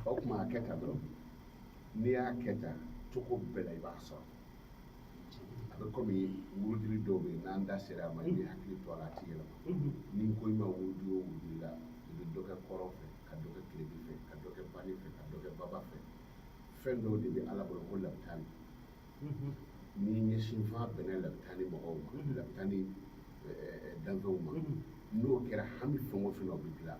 o kuma a kɛ tan dɔrɔn n'i y'a kɛ tan cogo bɛɛ la i b'a sɔrɔ a bɛ kɔmi wurudili dɔw bɛ yen n'an da sera a ma i bɛ hakili to a la a tɛ yɛlɛma ni n ko i ma wurudi o wurudi la i bɛ dɔ kɛ kɔrɔn fɛ ka dɔ kɛ tilebin fɛ ka dɔ kɛ bani fɛ ka dɔ kɛ baba fɛ fɛn dɔw de bɛ ala bolo ko labitani ni ɲɛsinfan bɛnna labitani mɔgɔw ma labitani danfɛnw ma n'o kɛra hami fɛn o fɛn na o bɛ dilan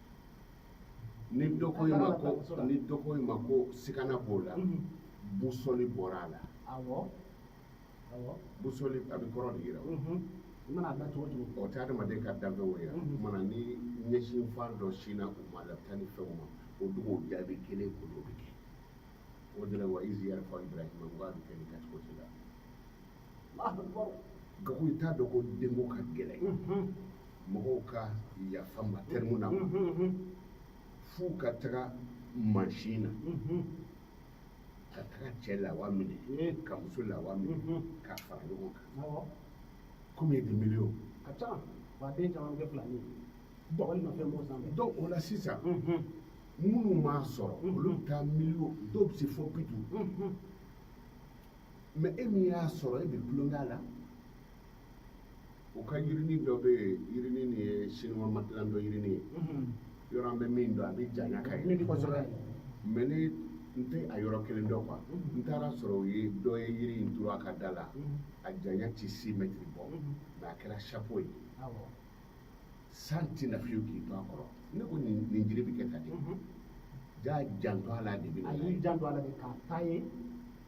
ni dɔ ko i ma ko ni dɔ ko i ma ko sikana b'o la busɔli bɔra a la busɔli a bɛ kɔrɔn de yira o i mana da cogo cogo o tɛ adamaden ka danfɛnw yira o mana ni ɲɛsinfan dɔ sinna u ma labitani fɛnw ma o dugu jaabi kelen ko dɔ bɛ kɛ o de la wa izi yɛrɛ fɔ ibrahima ko a bɛ kɛ nin kɛcogo de la gago i t'a dɔn ko denko ka gɛlɛn mɔgɔw ka yafa ma tɛrimu na f'u ka taga mansin na ka taga cɛ lawa minɛ ka muso lawa minɛ ka fara ɲɔgɔn kan combien de millions ka ca wa den caman kɛ fila min dɔgɔnin nɔfɛ mɔgɔ sanfɛ donc o la sisan minnu m'a sɔrɔ olu bɛ taa miliyɔn dɔw bɛ se fɔ bi duuru mais e min y'a sɔrɔ e bɛ tulonkɛ la u ka yirinin dɔ bɛ yen yirinin nin ye chinois matilan dɔ yirinin ye yɔrɔ an bɛ min dɔn a bɛ janya ka yɛlɛ mais ne n tɛ a yɔrɔ kelen dɔn quoi n taara sɔrɔ u ye dɔ ye yiri in turu a ka da la a janya tɛ six mètres bɔ mais a kɛra chapeau ye san tɛ na fiyewu k'i to a kɔrɔ ne ko nin nin jiri bɛ kɛ tan dɛ jaa janto a la de bɛ na a y'i janto a la de k'a ta ye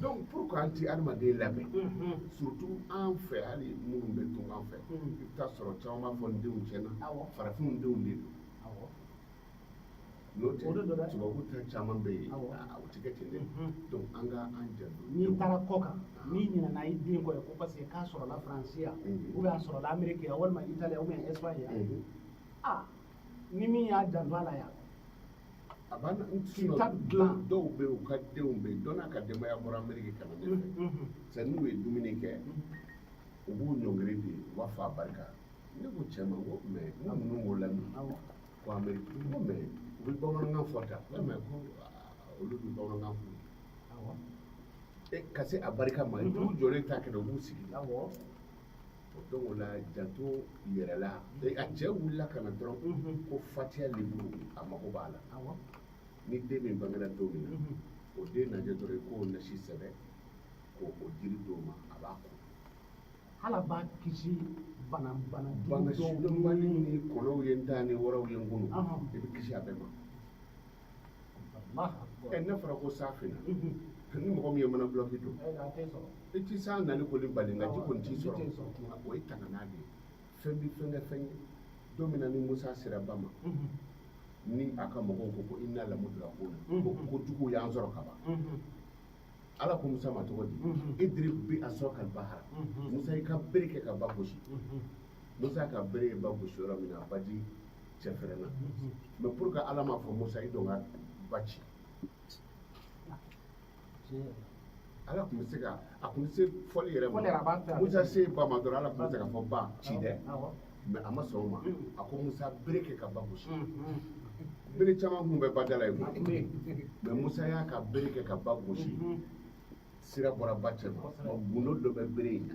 donc pourquoi an ti adamaden labɛn surtout an fɛ hali minnu bɛ tunga fɛ i bɛ taa sɔrɔ caman b'a fɔ n denw tiɲɛna farafinw denw de don n'o tɛ tubabu ta caman bɛ yen o tɛ kɛ ten dɛ donc an ka an janto n'i taara kɔ kan n'i ɲinɛna i den kɔ ye ko parce que k'a sɔrɔla faransi yan ou bien a sɔrɔla ameriki yan walima itali yan ou bien espagne yan aa ni min y'a janto a la yan a b'a kita dilan dɔw bɛ yen u ka denw bɛ yen dɔ n'a ka denbaya bɔra ameriki ka na ne fɛ c'est n'u ye dumuni kɛ u b'u ɲɔngiri de u b'a fɔ a barika ne ko cɛ ma ko mais n ka ninnu b'o lamɛn ko ameriki ko mais u bɛ bamanankan fɔ tan ko mais ko olu bɛ bamanankan fɔ ka se a barika ma u jɔlen t'a kɛ dɛ u b'u sigi donc o la janto yɛrɛ la a cɛ wulila ka na dɔrɔn ko fatiya liburu a mago b'a la ni den min bangera don min na o den lajɛ dɔrɔn i k'o nasi sɛbɛn k'o o jiri d'o ma a b'a ko ala b'a kisi bana bana bana sidɔnbali ni kɔnɔw ye n ta ni waraw ye n kunu i bɛ kisi a bɛɛ ma n'a fɔra ko san finna ni mɔgɔ min ye mana dulɔki don i tɛ san nali kɔni bali nka ji kɔni t'i sɔrɔ o ye tangana de ye fɛn bɛ fɛn kɛ fɛn ye don min na ni musa sera ba ma ni a ka mɔgɔw ko ko ina lamudurakuna ko jugu y'an sɔrɔ ka ban ala ko musa ma cogo di idiri bi asaka l bahara musa i ka bere kɛ ka ba gosi musa ka bere ye ba gosi yɔrɔ min na a baji cɛ fɛrɛnna mais pour que ala m'a fɔ musa i don ka ba ci ala tun bɛ se ka a tun bɛ se fɔli yɛrɛ ma musa se ba ma dɔrɔn ala tun bɛ se ka fɔ ba ci dɛ mais a ma sɔn o ma a ko musa bere kɛ ka ba gosi bere caman tun bɛ badala yen mais musa y'a ka bere kɛ ka ba gosi sira bɔra ba cɛ ma gundo dɔ bɛ bere in na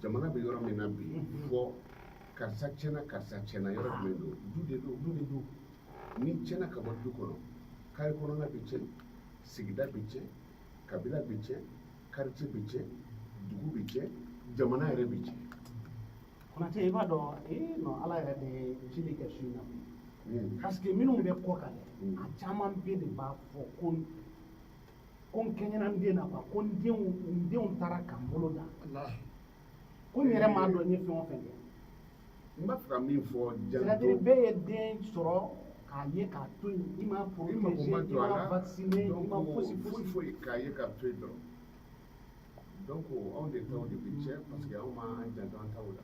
jamana bɛ yɔrɔ min na bi fɔ karisa tiɲɛna karisa tiɲɛna yɔrɔ jumɛn don du de don du de don n'i tiɲɛna ka bɔ du kɔnɔ carré kɔnɔna bɛ tiɲɛ sigida bɛ tiɲɛ kabila bɛ tiɲɛ quartier bɛ tiɲɛ dugu bɛ tiɲɛ jamana yɛrɛ bɛ tiɲɛ. konate i b'a dɔn ee non ala yɛrɛ de ye ile kɛ su in na bi hmm. parce que minnu bɛ kɔ kan dɛ hmm. a caman bɛɛ de b'a fɔ ko ko n kɛɲɛna n den na quoi ko n denw n denw taara ka n bolo dan ko n yɛrɛ m'a dɔn n ye fɛn o fɛn kɛ n b'a fɛ ka min fɔ janto c'est-à-dire bɛɛ ye den sɔrɔ k'a ye k'a to yen i ma i mago ma protégé i jɔ a ma la vacciner i ma donc fosi foyi fosi foyi k'a ye k'a to yen dɔrɔn donc anw de taw de bɛ tiɲɛ parce que anw m'an janto an taw la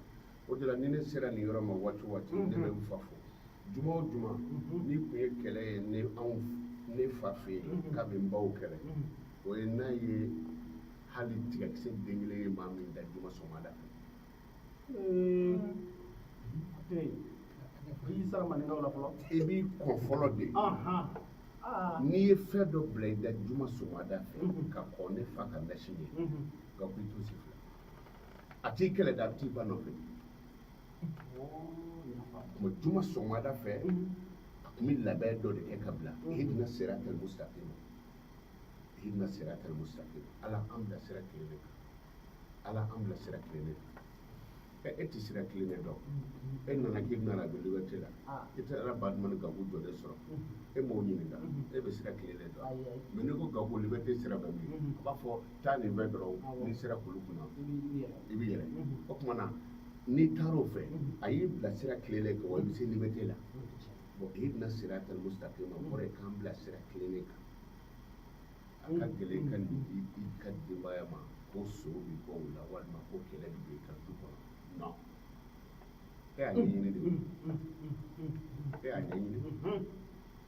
o de la ni ne sera nin yɔrɔ ma waati o waati ne bɛ n fa fo juma o juma n'i tun ye kɛlɛ ye ne anw ne fa fɛ yen k'a bɛ n baw kɛlɛ o ye n'a ye hali tigakisɛ den kelen ye maa min da juma sɔgɔmada fɛ i sara maninkaw la fɔlɔ i b'i kɔn fɔlɔ de n'i ye fɛn dɔ bila i da juma sɔgɔmada fɛ ka kɔn ne fa ka nasi ɲɛ nka ko i t'o si fila a t'i kɛlɛ dɛ a bɛ t'i ba nɔfɛ kuma juma sɔgɔmada fɛ a tun bɛ labɛn dɔ de kɛ ka bila ihdina siratal mustaqim ihdina siratal mustaqim ala an bila sira tilennen kan ala an bila sira tilennen kan ɛ e tɛ sira tilennen dɔn e nana k'i bɛna na don liberté la i taara badumani gabu jɔlen sɔrɔ e m'o ɲininka e bɛ sira tilennen dɔn mais n'i ko gabu liberté sira bɛ min a b'a fɔ taa nin fɛ dɔrɔn n'i sera kulu kunna i bɛ yɛlɛ o tuma na n'i taara o fɛ a y'i bila sira tilennen kan wa i bɛ se liberté la bɔn ihdina siratal mustaqima kɔrɔ ye k'an bila sira tilennen kan a ka gɛlɛn ka nin di i ka denbaya ma ko so bɛ bɔ o la walima ko kɛlɛ bɛ b'i ka du kɔnɔ non e y'a ɲɛɲini de o e y'a ɲɛɲini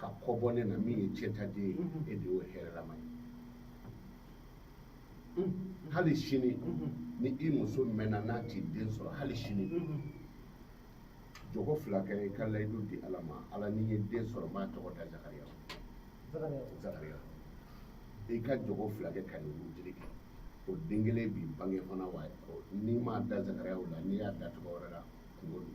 ka kɔ bɔ ne na min ye cɛtaden ye e de y'o hɛrɛlama ye hali sini ni i muso mɛnna n'a tɛ den sɔrɔ hali sini jɔkɔ fila kɛ i ka layidu di ala ma ala ni n ye den sɔrɔ n b'a tɔgɔ da zakariya i ka jɔkɔ fila kɛ ka nin wurudi kɛ o den kelen bɛ bange fana wa n'i m'a da zakariya la n'i y'a da tɔgɔ wɛrɛ la kunko don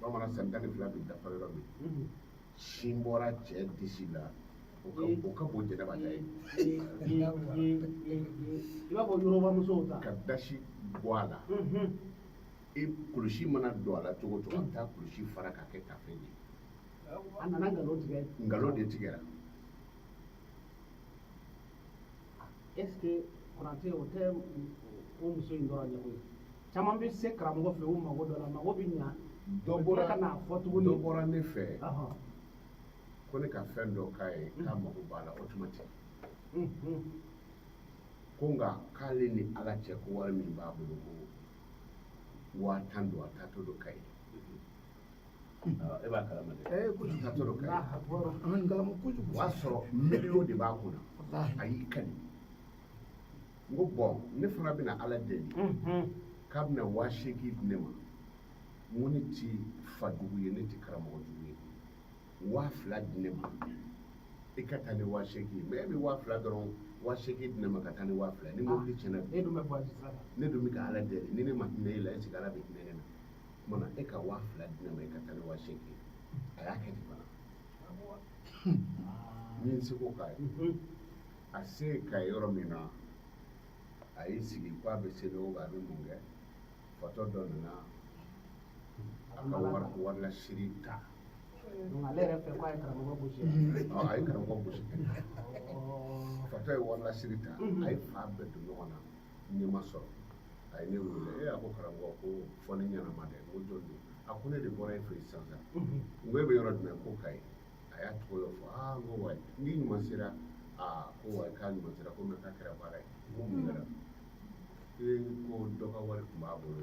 bamanan san tan ni fila bi dafa yɔrɔ min sin bɔra cɛ disi la o ka bon jɛnɛba ta ye i b'a fɔ yɔrɔba musow ta ka dasi bɔ a la i kulusi mana don a la cogo o cogo a bɛ taa kulusi fara k'a kɛ tafe ye a nana nkalon tigɛ nkalon de tigɛra est ce que konaté o tɛ o muso in dɔrɔn ɲɛ ko ye caman bɛ se karamɔgɔ fɛ u mago dɔ la mago bɛ ɲa dɔ bɔra ka n'a fɔ tuguni dɔ bɔra ne fɛ Ɔhɔn. ko ne ka fɛn dɔ k'a ye k'a mago b'a la automatique Mm, mm. ko nka k'ale ni ala cɛ ko wari min b'a bolo ko waa tan don a taatɔ don kayi e b'a kalama dɛ ee kojugu ka tɔɔrɔ kɛ an b'a kalama kojugu o y'a sɔrɔ miliyɔn de b'a kunna a y'i kali n ko bɔn ne fana bɛna ala deli k'a bɛna waa seegin di ne ma n ko ne ti fajugu ye ne ti karamɔgɔ jugu ye waa fila di ne ma i ka taa ni waa seegin mɛ e bɛ waa fila dɔrɔn waa seegin di ne ma ka taa ni waa fila ni mobili tiɲɛna ne dun bɛ ka ala deli ni ne ma hinɛ e la est ce que ala bɛ hinɛ ne na tuma na e ka waa fila di ne ma i ka taa ni waa seegin a y'a kɛ ten fana n ye n seko k'a ye a se ka yɔrɔ min na a y'i sigi ko a bɛ seli o a bɛ mun kɛ fatɔ dɔ nana a ka wari lasiri ta ale yɛrɛ fɛ ko a ye karamɔgɔ gosi a ye karamɔgɔ gosi fatɔ ye wari lasiri ta a ye fan bɛɛ don ɲɔgɔn na ne ma sɔrɔ a ye ne wele ee a ko karamɔgɔ ko fɔ ne ɲɛnama dɛ n ko jɔn don a ko ne de bɔra e fɛ yen sisan sisan n ko e bɛ yɔrɔ jumɛn ko kayi a y'a tɔgɔ dɔ fɔ aa n ko wa n'i ɲuman sera aa ko wa k'a ɲuman sera ko mɛ k'a kɛra baara ye n ko mun kɛra ee ko dɔ ka wari tun b'a bolo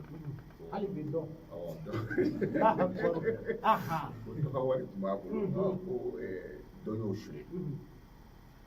hali bi dɔn awɔ dɔ ko dɔ ka wari tun b'a bolo ɔ ko ɛɛ dɔ y'o suɲɛ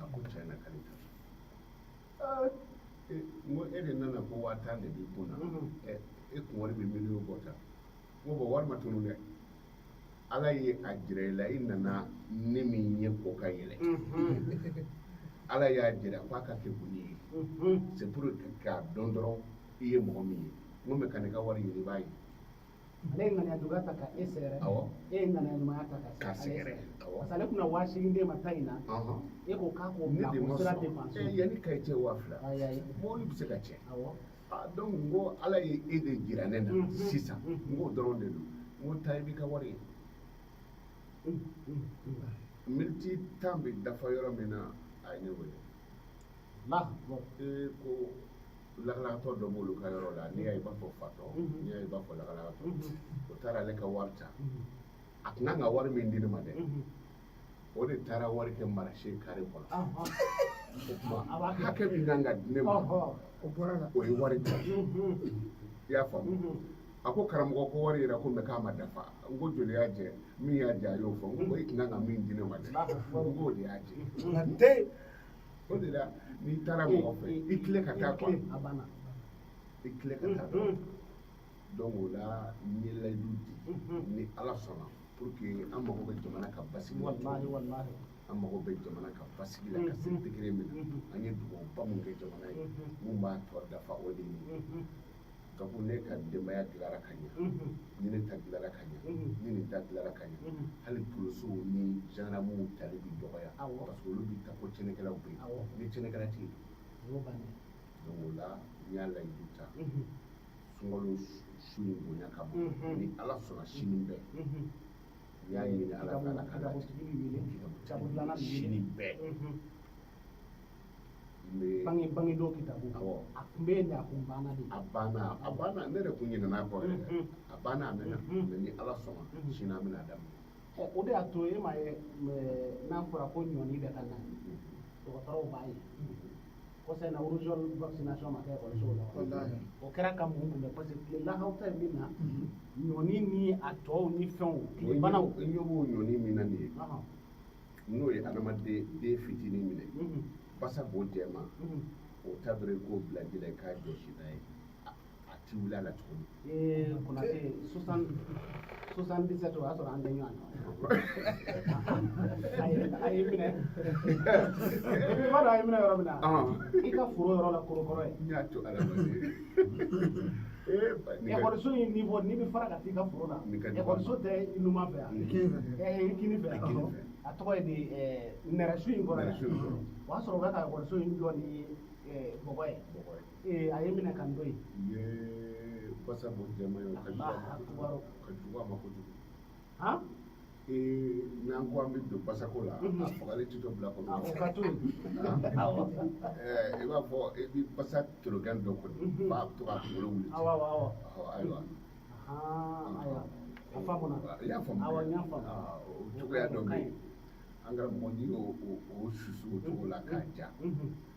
a ko tiɲɛ na k'ale ta e, n ko e de nana ko waa tan de b'i kun na e kun wari bɛ miliyɔn bɔ tan n ko bɔn wari ma tunu dɛ ala ye a jira i la i nana ne min ye ko ka yɛlɛ ala y'a jira k'a ka kɛ kun ye c'est pour k'a dɔn dɔrɔn i ye mɔgɔ min ye n ko mɛ kan'i ka wari ɲini i b'a ye ale ye ŋaniya juguya ta ka e sɛgɛrɛ e ye ŋaniya ɲumanya ta k'a sɛgɛrɛ parce que ale tun na waa seegin d'e ma taa in na e ko k'a k'o bila ko sira dépense eh, yan ni Kayi cɛ waa fila mobili bɛ se ka tiɲɛ ah, donc n ko ala ye e de jira ne na mm, mm, sisan mm. n k'o dɔrɔn de don n ko taa i b'i ka wari ye miniti tan bɛ dafa yɔrɔ min na a ye ne wele Ee ko lakalakatɔ dɔ b'olu ka yɔrɔ la n'i y'a ye i b'a fɔ fatɔ n'i y'a ye i b'a fɔ lakalakatɔ o taara ale ka wari ta a tun kan ka wari min di ne ma dɛ o de taara wari kɛ marché carré kɔnɔ o tuma hakɛ min kan ka di ne ma o bɔr'a la o ye wari ta i y'a faamuya a ko karamɔgɔ ko wari yɛrɛ ko mɛ k'a ma dafa n ko joli y'a jɛ min y'a jɛ a y'o fɔ n ko i tun kan ka min di ne ma dɛ n k'o de y'a jɛ o de la n'i taara mɔgɔ fɛ i tilen ka taa quoi i tilen ka taa dɔrɔn donc o la n ye layidu di ni ala sɔnna pour que an mago bɛ jamana ka basigi la an mago bɛ jamana ka basigi la ka se degré min na an ye dugawuba mun kɛ jamana ye mun b'a tɔ dafa o de ye ka ko ne ka denbaya dilara ka ɲɛ ni ne ta dilara ka ɲɛ ni nin ta dilara ka ɲɛ hali polosiw ni zandaramuw tali bi dɔgɔya parce que olu bi ta ko tiɲɛnikɛlaw bɛ yen ni tiɲɛnikɛla tɛ yen donc o la n y'a layidu ta sunkalo su in bonya kama ni ala sɔnna sini bɛɛ n y'a ɲini ala fɛ ala ka latigɛ sini bɛɛ bange bange dɔw kitabu a tun bɛ yen a kun banna de a banna a banna ne yɛrɛ kun ɲinɛn'a kɔ yɛrɛ mm-hmm. a banna a mɛnna mm-hmm. mɛ ni ala sɔnna mm-hmm. sini an bɛn'a daminɛ o de y'a to e ma ye n'a fɔra ko ɲɔni bɛ ka na dɔgɔtɔrɔw b'a ye kɔsa in na rougeole vaccination ma kɛ ekɔlisow la o kɛra ka mun kunbɛn parce que tile lakaw ta ye min na ɲɔni ni a tɔw ni fɛnw tilebanaw i ɲɛ b'o ɲɔni min na nin ye n'o ye adamaden den fitinin minɛ basa bo jɛman o ta dɔrɔn i k'o bila ji la i k'a jɔsi n'a ye a ti wuli a la tuguni ee konate soixante-dix-sept o y'a sɔrɔ an tɛ ɲɔgɔn na a ye a ye minɛ i b'a dɔn a ye minɛ yɔrɔ min na i ka foro yɔrɔ la korokɔrɔ ye n y'a to ala ma ekɔliso in niveau n'i bɛ fara ka t'i ka foro la ekɔliso tɛ i numan fɛ yan i kini fɛ a tɔgɔ ye di nɛrɛsun in kɔrɔ yan o y'a sɔrɔ u bɛ ka ekɔliso in jɔ ni bɔgɔ ye a ye minɛ ka n to yen. Ye basa bo jɛman ye ka jugu a ma kojugu. n'an ko an bɛ don basako la a fagali tɛ dɔ bila kɔnɔ i b'a fɔ i bɛ basa torokɛn dɔ kɔnɔ b'a to k'a kunkolo wuli ayiwa i y'a faamu o cogoya dɔ bɛ yen an karamɔgɔ n'i y'o susu o cogo la k'a ja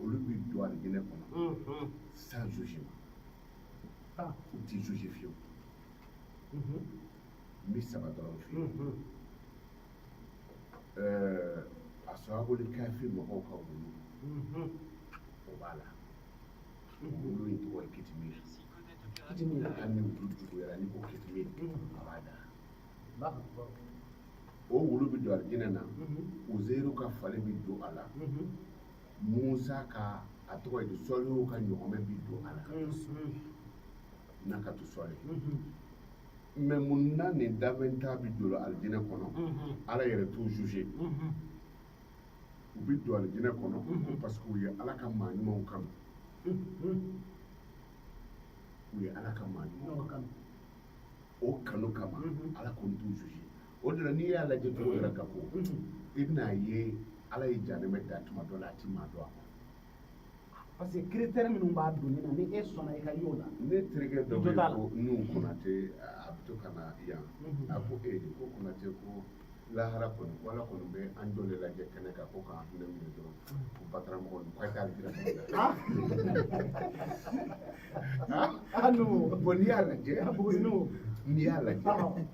olu bɛ don alijinɛ kɔnɔ sans jugement u tɛ juger fiyewu n bɛ saba dɔrɔn f'i ye ashabul kahfi mɔgɔw ka wulu o b'a la wulu in tɔgɔ ye kitimiri hali ni wulu juguyara n'i ko kitimiri a b'a da o wulu bɛ don alijinɛ na uzɛru ka fali bɛ don a la Musa ka a tɔgɔ ye di sɔlihu ka ɲɔgɔmɛ bi don a la nakatu sɔli mais mun na nin danfɛn tan bi don alijinɛ kɔnɔ ala yɛrɛ t'u juger u bi don alijinɛ kɔnɔ parce que u ye ala ka maa ɲumanw kanu u ye ala ka maa ɲumanw kanu o kanu kama ala kɔni t'u juger o de la n'i y'a lajɛ cogo yɛrɛ ka ko i bɛn'a ye ala ye janɛmɛ da tuma dɔ la a ti maa don a kɔnɔ parce que critère minnu b'a donni na ni e sɔnna i ka y'o la ne terikɛ dɔ bɛ yen ko nu konate a bɛ to ka na yan a ko e de ko konate ko lahara kɔni ko ala kɔni bɛ an jɔ de lajɛkɛnɛ kan ko k'an hinɛ minɛ dɔrɔn ko bataramɔgɔ ninnu k'a t'ale jira mɔgɔ la bon n'i y'a lajɛ n'i y'a lajɛ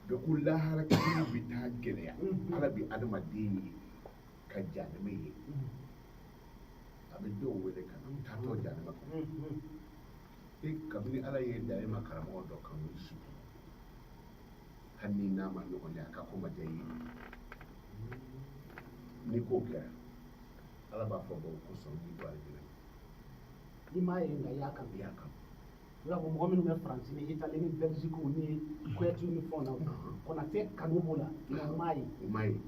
donc lahara kiri bɛ taa gɛlɛya ala bɛ adamaden ye ka janɛmɛ ye a bɛ dɔw wele ka na taatɔ janɛmɛ kɔnɔ e kabini ala y'e da e ma karamɔgɔ dɔ kanu i si hali n'i n'a ma ɲɔgɔn ye a ka ko ma diya i ye ni ko kɛra ala b'a fɔ bon ko sɔn i don alijinɛ la i m'a ye nka i y'a kanu i y'a kanu i b'a fɔ mɔgɔ minnu bɛ faransi ni itali ni bɛlisikiw ni kuyɛtiw ni fɛnw na konate kanu b'o la nka u m'a ye u m'a ye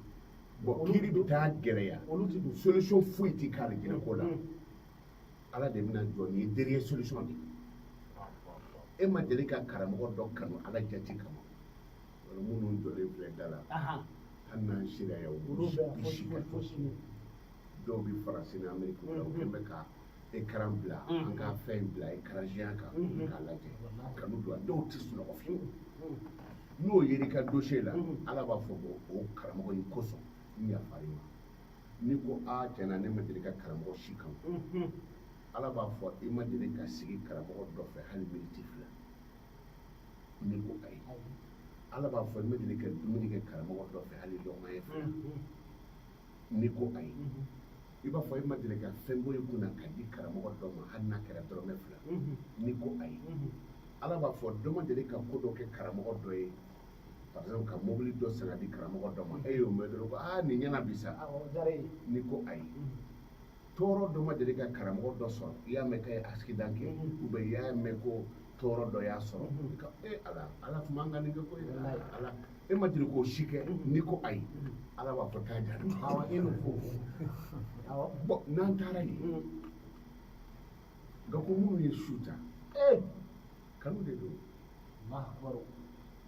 bon kiri bɛ taa gɛrɛya olu ti don solution foyi tɛ k'alijinɛ ko la ala de bɛna jɔ ni dernière solution de e ma deli ka karamɔgɔ dɔ kanu ala jati kama wala minnu jɔlen filɛ da la hali n'an sera yan olu bɛ fosi fosi dɔw bɛ faransi ni ameriki la u kɛlen bɛ ka écran bila an ka fɛn in bila écran géant kan k'a lajɛ kanu don a dɔw tɛ sunɔgɔ fiyewu n'o yera i ka dossier la ala b'a fɔ ko o karamɔgɔ in kosɔn n yafara i ma n'i ko a tiɲɛna ne ma deli ka karamɔgɔ si kanu ala b'a fɔ i ma deli ka sigi karamɔgɔ dɔ fɛ hali miniti fila n'i ko ayi ala b'a fɔ i ma deli ka dumuni kɛ karamɔgɔ dɔ fɛ hali lɔgɔma ɲɛ fila n'i ko ayi i b'a fɔ e ma deli ka fɛn bɔ i kunna ka di karamɔgɔ dɔ ma hali n'a kɛra dɔrɔmɛ fila n'i ko ayi ala b'a fɔ dɔ ma deli ka ko dɔ kɛ karamɔgɔ dɔ ye par exemple ka mobili dɔ san ka di karamɔgɔ dɔ ma e y'o mɛn dɔrɔn ko aa nin ɲɛna bi sa n'i ko ayi tɔɔrɔ dɔ ma deli ka karamɔgɔ dɔ sɔrɔ i y'a mɛn k'a ye accident kɛ mm-hmm. ou bien i y'a mɛn ko tɔɔrɔ dɔ y'a sɔrɔ mm-hmm. ka e eh, ala ala tun man ka nin kɛ ko ala e ma deli k'o si kɛ mm-hmm. n'i ko ayi ala b'a fɔ taa jahanama awɔ e n'o fɔ awɔ bɔn n'an taara yen mm. nka ko minnu ye su ta ee eh! kanu de don mahabaro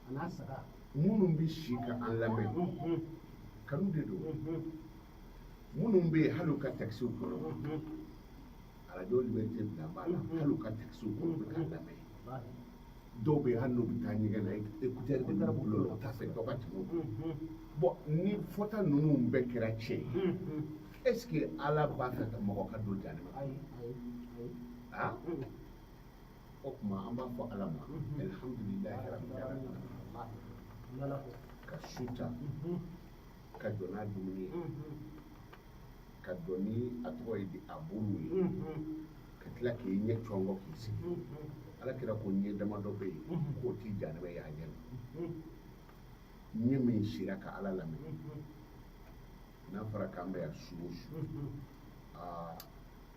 a n'a saga minnu bɛ si ka an lamɛn kanu de don minnu bɛ yen hali u ka takisiw kɔnɔ arajo liberté bila b'a la hali u ka takisiw kɔnɔ u bɛ k'a lamɛn dɔw bɛ yen hali n'u bɛ taa ɲɛgɛn na ekutɛri de b'u bolo la u t'a fɛ dɔ ka tɛmɛ u kan bɔn ni fɔta ninnu bɛɛ kɛra tiɲɛ ye est ce que ala b'a fɛ ka mɔgɔ ka don jahanama ah o tuma an b'a fɔ ala ma alihamudulilayi ka su ta ka jɔ n'a dumuni ye ka jɔ ni a tɔgɔ ye di a bolo ye ka tila k'i ɲɛ cɔngɔ k'i sigi ala kira ko ɲɛ damadɔ bɛ yen k'o tɛ jahanama ye a ɲɛ na ɲɛ min sira ka ala lamɛn n'a fɔra k'an bɛ yan su o su aa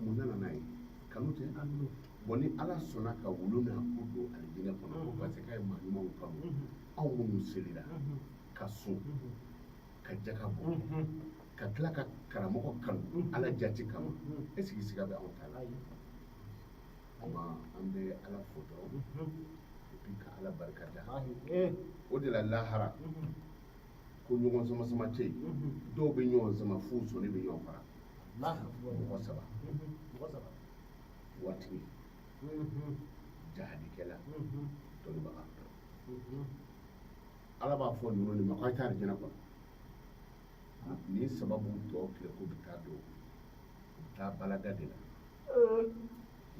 mun nana n'a ye kanu tɛ bɔn ni ala sɔnna ka wulu n'a ku don alijinɛ kɔnɔ parce que k'a ye maa ɲumanw kanu anw minnu selira ka sun ka jaka bɔ ka tila ka karamɔgɔ kanu ala jati kama est ce que siga bɛ anw ta la ama an bɛ ala fo dɔrɔn et puis ka ala barika da o de la lahara ko ɲɔgɔn sama sama tɛ yen dɔw bɛ ɲɔgɔn sama f'u sɔnni bɛ ɲɔgɔn fara mɔgɔ saba waatigi jahadikɛla dɔnnibaga ala b'a fɔ ninnu de ma ka taa alijinɛ kɔnɔ nin sababu tɔ tile k'u bɛ taa don u bɛ taa bala da de la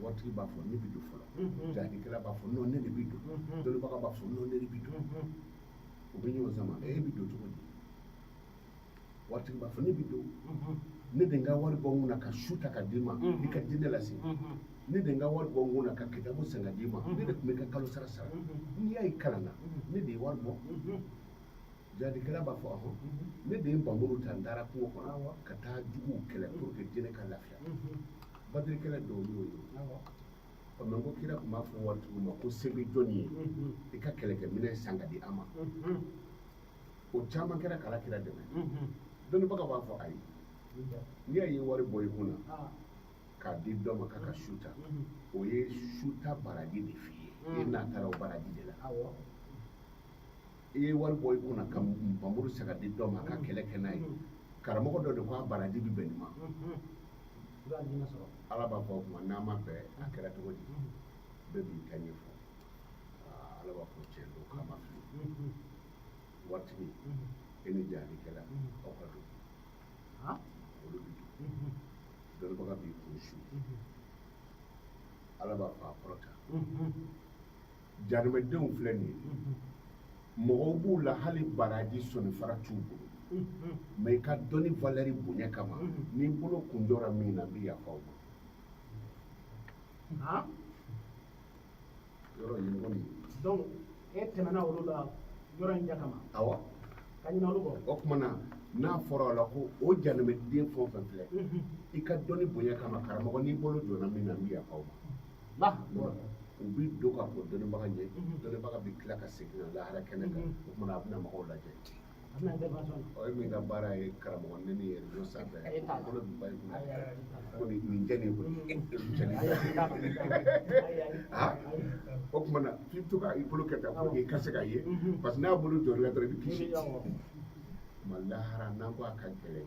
waritigi b'a fɔ ne bɛ don fɔlɔ jahadikɛla b'a fɔ non ne de bɛ don dɔnnibaga b'a fɔ non ne de bɛ don u bɛ ɲɔgɔn sama e bɛ don cogo di waritigi b'a fɔ ne bɛ don ne de ka wari bɔ n kun na ka so ta k'a d'i ma i ka diinɛ lase ne de ka wari bɔ n kun na ka kitabu san k'a d'i ma ne de tun b'i ka kalosara sara n'i y'a ye i kalanna ne de ye wari bɔ Jahadikɛla b'a fɔ a ko ne de ye npanmuru ta n taara kungo kɔnɔ ka taa juguw kɛlɛ pour que diinɛ ka lafiya Badiri kɛlɛ dɔw y'o ye mɛ ko kira tun b'a fɔ waritigiw ma ko se bɛ jɔn ye i ka kɛlɛkɛminɛn san k'a di an ma o caman kɛra k'ala kira dɛmɛ dɔnnibaga b'a fɔ ayi n'i y'a ye wari bɔ i kun na k'a di dɔ ma k'a ka so ta o ye so ta baraji de f'i ye i n'a taara o baraji de la i ye wari bɔ i kun na ka npanmuru san k'a di dɔ ma a ka kɛlɛ kɛ n'a ye karamɔgɔ dɔ de ko a baraji bɛ bɛn nin ma ala b'a fɔ o tuma n'a ma bɛn a kɛra cogo di bɛɛ b'i ta ɲɛfɔ ala b'a fɔ tiɲɛ don k'a ma fili waritigi e ni jahadikɛla aw ka don olu bɛ don dɔnnibaga b'i kun su ala b'a fɔ a kɔrɔta Jahanamadenw filɛ nin ye mɔgɔw b'u la hali baraji sɔninfara t'u bolo mɛ i ka dɔnni valeur bonya kama n'i bolo kun jɔra min na n bɛ yafa o ma yɔrɔ ɲɔgɔn e tɛmɛna olu la yɔrɔ in ja kama aw ka ɲuman o tuma na n'a fɔra o la ko o jahanamaden fɛn o fɛn filɛ i ka dɔnni bonya kama karamɔgɔ n'i bolo jɔra min na n bɛ yafa o ma u bɛ don ka fɔ dɔnnibaga ɲɛ dɔnnibaga bɛ tila ka segin ka na lahara kɛnɛ kan o tuma na a bɛna mɔgɔw lajɛ o ye min ka baara ye karamɔgɔ ne ni yɛrɛ don sanfɛ bolo bɛ ba kun ko nin nin jɛ nin koyi nin jɛ nin ha o tuma na f'i bɛ to ka i bolo kɛ tan pour que i ka se k'a ye parce que n'a bolo jɔra dɔrɔn i bɛ kisi ma lahara n'an ko a ka gɛlɛn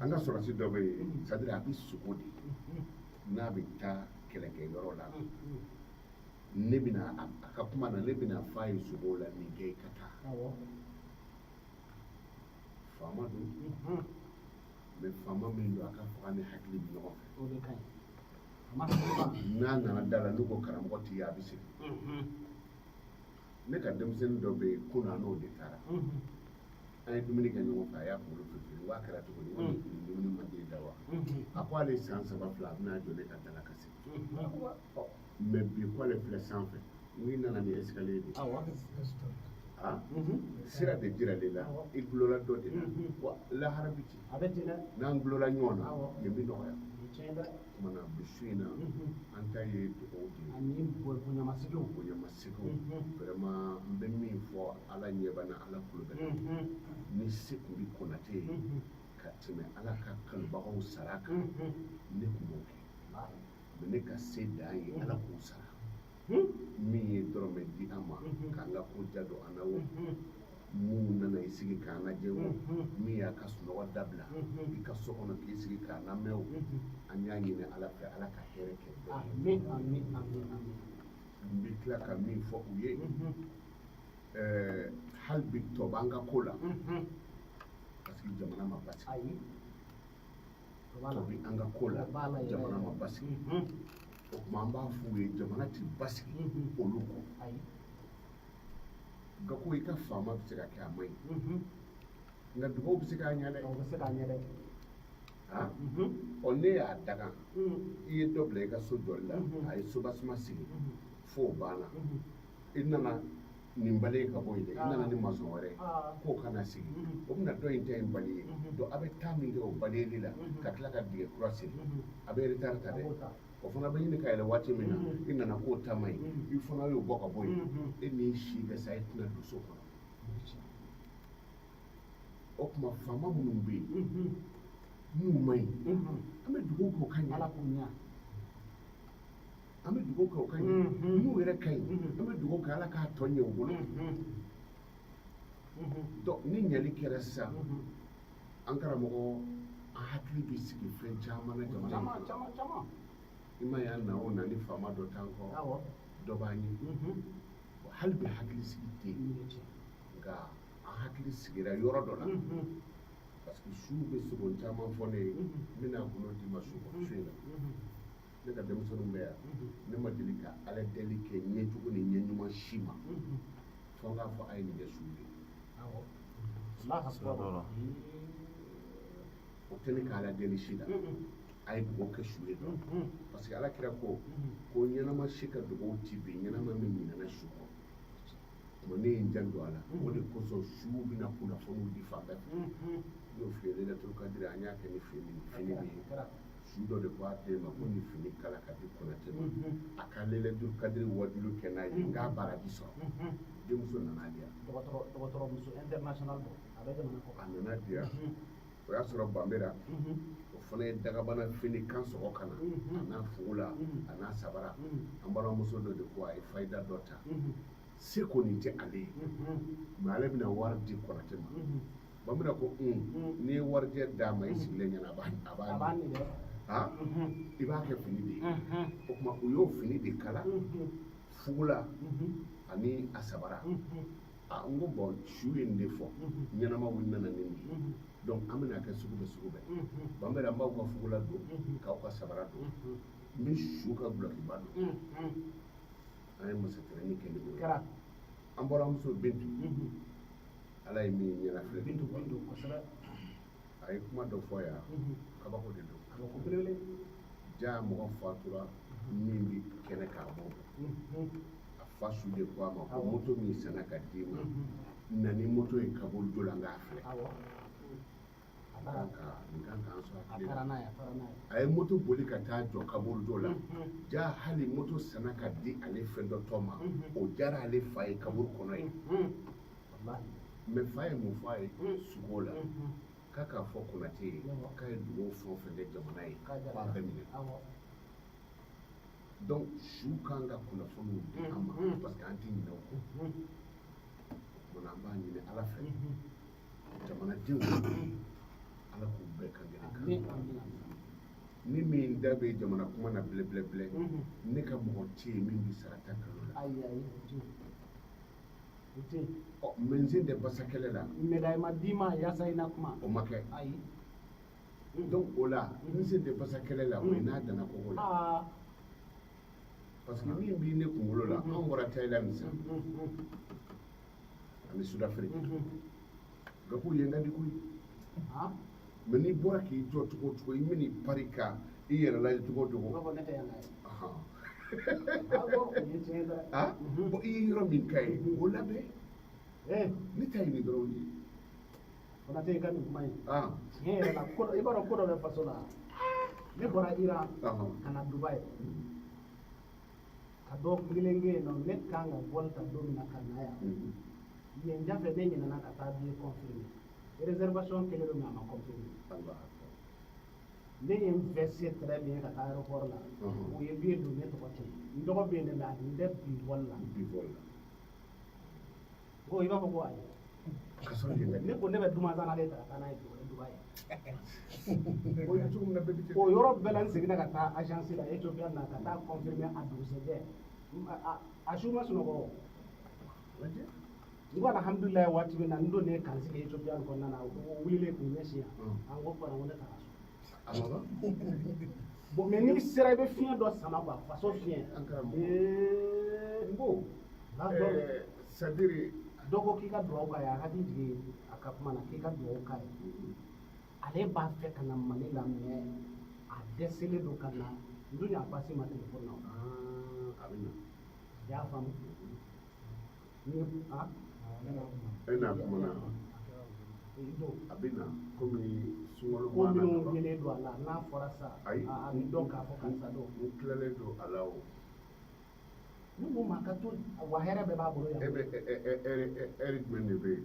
an ka sɔrɔdasi dɔ bɛ yen c'est à dire a bɛ sogo de n'a bɛ taa kɛlɛkɛyɔrɔ la ne bɛna a ka kuma na ne bɛna f'a ye sogo la nin kɛ i ka taa faama don mɛ faama min don a ka fanga ni hakili bɛ ɲɔgɔn fɛ n'a nana da la n'u ko karamɔgɔ tɛ yan a bɛ segin ne ka denmisɛnnin dɔ bɛ yen kunun n'o de taara an ye dumuni kɛ ɲɔgɔn fɛ a y'a kunkolo firifiri wa kɛra cogo di nin dumuni man di i da wa a ko ale san saba filɛ a bɛna jɔ ne ka da la ka segin mɛ bi ko ale filɛ sanfɛ n'i nana ni escalier de a sira de jirala i la i dulonna dɔ de la wa lahara bɛ ten n'an dulonna ɲɔgɔn na nin bɛ nɔgɔya o tuma na bi su in na an ta ye dugawu de ye ani bonyamaseginw vraiment n bɛ min fɔ ala ɲɛ bɛ n na ala tulo bɛ n na ni se tun bɛ konatɛ ye ka tɛmɛ ala ka kanubagaw sara kan ne tun b'o kɛ mais ne ka se dan ye ala k'u sara min ye dɔrɔmɛ di an ma k'an ka ko ja don an na wo minnu nana i sigi k'an lajɛ wo min y'a ka sunɔgɔ dabila i ka so kɔnɔ k'i sigi k'an lamɛn o an y'a ɲini ala fɛ ala ka hɛrɛ kɛ n bɛ tila ka min fɔ u ye hali bi tɔ b'an ka ko la parce que jamana ma basigi tɔ bi an ka ko la jamana ma basigi o tuma an b'a f'u ye jamana ti basigi olu kɔ nka ko i ka faama bɛ se ka kɛ a man ɲi nka dugawu bɛ se k'a ɲɛ dɛ o bɛ se k'a ɲɛ dɛ ɔ ne y'a daga i ye dɔ bila i ka so jɔli la a ye soubassement sigi fo o banna i nana nin balayer ka bɔ yen dɛ i nana ni masɔn wɛrɛ ye k'o ka n'a sigi o bɛna dɔ in ta in balayer donc a bɛ temps min kɛ o balayeli la ka tila ka dingɛ kura sen a bɛ retard ta dɛ o fana bɛ ɲini ka yɛlɛ waati min na i nana k'o ta man ɲi i fana y'o bɔ ka bɔ yen e n'i si bɛ sa e tɛna don so kɔnɔ o tuma faama minnu bɛ yen n'u man ɲi an bɛ dugawu k'o ka ɲɛ ala k'o ɲɛ an bɛ dugawu kɛ o ka ɲɛ mm-hmm. n'u yɛrɛ ka ɲi mm-hmm. an bɛ dugawu kɛ ala k'a tɔ ɲɛ u bolo mm-hmm. ni ɲɛli kɛra sisan an karamɔgɔ an hakili bɛ sigi fɛn caman na jamana kɔnɔ i ma y'a na o na ni faama dɔ t'an kɔ dɔ b'an ɲɛ hali bi hakili sigi tɛ yen nka an hakili sigira yɔrɔ dɔ la parce que su bɛ sugo caman fɔ ne ye n bɛna a kɔnɔ d'i ma su kɔnɔ su in na ne ka denmisɛnninw bɛ yan ne ma deli ka ala deli kɛ ɲɛjugu ni ɲɛ ɲuman si ma fo n k'a fɔ a ye nin kɛ su ye o tɛ ne ka ala deli si la a ye dugawu kɛ su ye dɔrɔn parce que ala kira ko ko ɲɛnama si ka dugawu ti bin ɲɛnama min ɲinana su kɔ o tuma ne ye n janto a la o de kosɔn su bɛna kunnafoniw di fan bɛɛ fɛ n y'o f'i ye lailatul kadiri an y'a kɛ ni fini fini min ye su dɔ de ko a den ma ko ni fini kala k'a di konatɛ ma mm-hmm. a ka lailatul kadiri wajulu kɛ n'a ye mm-hmm. n k'a baraji sɔrɔ mm-hmm. denmuso nana di yan dɔgɔtɔrɔmuso international don a bɛ jamana kɔ a nana di yan o y'a sɔrɔ banbera o fana ye dagabana fini kan sɔgɔ ka na a n'a fugula a n'a sabara an balimamuso dɔ de ko a ye fayida dɔ ta se kɔni tɛ ale ye mais ale bɛna wari di konatɛ ma banbera ko n'i ye warijɛ d'a ma i sigilen ɲɛna a b'a a b'a ni dɛ i b'a kɛ fini de ye o tuma u y'o fini de kala fugula ani a sabara a n ko bɔn su ye nin de fɔ ɲɛnama wuli nana ne nin donc an bɛna kɛ sugu bɛɛ sugu bɛɛ banbera n b'aw ka fugula don k'aw ka sabara don n bɛ su ka dulɔkiba don an ye masakɛrɛni kɛ ne bolo an bɔra muso bintu ala ye min ɲɛna filɛ min don min don kosɛbɛ a ye kuma dɔ fɔ yan mhm. kabako de don kabako belebele jaa mɔgɔ fatura mhm. min bi kɛnɛ k'a bɔ mhm. a fa su de ko a ma ko moto min sanna ka d'i ma na ni moto ye kaburudo la n k'a filɛ a ye moto boli ka taa jɔ kaburudo la jaa hali moto sanna ka di ale fɛn dɔ tɔ ma o diyara ale fa ye kaburu kɔnɔ ye mais fa ye mun fɔ a ye sugo la k'a k'a fɔ konate ye k'a ye dugawu fɛn o fɛn kɛ jamana ye k'a bɛɛ minɛ donc su kan ka kunnafoniw di an ma parce que an tɛ ɲinɛ o kɔ o tuma na an b'a ɲini ala fɛ jamanadenw ala k'u bɛn kan kelen kan ni min da bɛ jamana kuma na bilɛbilɛbilɛ ne ka mɔgɔ tɛ yen min bɛ sara ta kalo la ɔ mais n sen tɛ basa kɛlɛ la médaille ma d'i ma yasa i na kuma o ma kɛ ayi donc o la n sen tɛ basa kɛlɛ la o ye n'a danna kogo la parce que min bɛ ne kunkolo la an bɔra thaïlande sisan ani sudafiriki gabon yen ka di koyi mais n'i bɔra k'i jɔ cogo o cogo i bɛna i pari ka i yɛrɛ lajɛ cogo o cogo bɔn i ye yɔrɔ min ka ye o labɛn ne ta ye nin dɔrɔn de ye Konate ka nin kuma ye tiɲɛ yɛrɛ la ko i b'a dɔn ko dɔ bɛ faso la ne bɔra iran ka na dubaï ka don kelen kɛ yen nɔ ne kan ka vol ta don min na ka na yan yen da fɛ ne ɲinɛna ka taa billet confirmer réservation kɛlen don mais a ma confirmer ne ye n vesté très bien ka taa aéroport la o ye billet don ne tɔgɔ tɛ n tɔgɔ bɛ yen ne la a tun tɛ bi vol la ko i b'a fɔ ko ayi ne ko ne bɛ dumanzana de ta ka taa n'a ye tuguni dubaï o yɔrɔ bɛɛ la n seginna ka taa agence la ethiopian na ka taa confirmer a dugusɛjɛ a su n ma sunɔgɔ o n ko alhamdulilayi waati min na n donnen ka n sigi ethiopian kɔnɔna na o wililen k'u ɲɛsin yan an ko fana ko ne taara so bon mais n'i sera i bɛ fiɲɛ dɔ sama quoi faso fiɲɛ n ko c'est-à-dire dɔ ko k'i ka dugawu k'a ye a ka di jigin a ka kuma na k'i ka dugawu k'a ye ale b'a fɛ ka na mali la mais a dɛsɛlen don ka na n dun y'a pasi ma telefɔni na a bɛ na i y'a faamu e n'a kuma na a bɛ na kɔmi sunkalo ko b'a na minnu kaban. yelen don a la n'a fɔra sa ayi a a bɛ dɔn k'a fɔ karisa don n tilalen don a la o ne ko maa ka to wa hɛrɛ bɛɛ b'a bolo e yan bɛ ɛ- ɛ- ɛ- ɛri ɛ- ɛri jumɛn de bɛ yen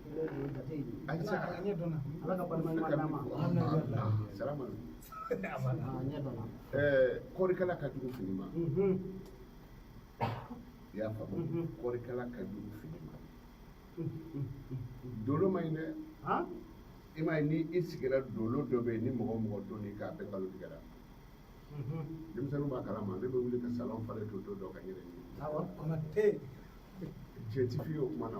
Kɔrikala ka jugu fini ma i y'a faamu kɔrikala ka jugu fini ma dolo man ɲi dɛ i m'a ye ni i sigira dolo dɔ bɛ yen ni mɔgɔ o mɔgɔ don k'a bɛɛ kalo tigɛra denmisɛnninw b'a kalama ne bɛ wuli ka salon falen to don dɔ ka yɛrɛ ɲini cɛ ti fi ye o kuma na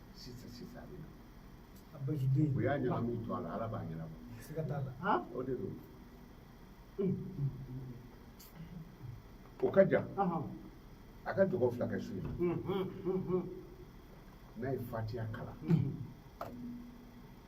sisan sisan a bɛ na a basi den u y'a ɲagami to a la ala b'a ɲɛnabɔ siga t'a la han o de don o ka jan ahan a ka jɔgɔ fila kɛ su in na n'a ye fatiya kalan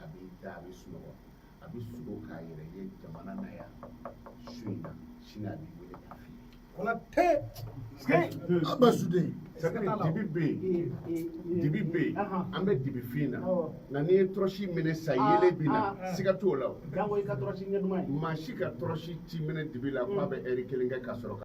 a b'i da a bɛ sunɔgɔ a bɛ sugo k'a yɛrɛ ye jamana na yan su in na sini a b'i wele k'a f'i ye. Konatɛ an bɛ su de ye. C'est que dibi bɛ yen dibi bɛ yen an bɛ dibi fin na nka n'i ye tɔrɔsi minɛ sa yelen bi na siga t'o la o. maa si ka tɔrɔsi ti minɛ dibi la k'a bɛ ɛri kelen kɛ ka sɔrɔ ka.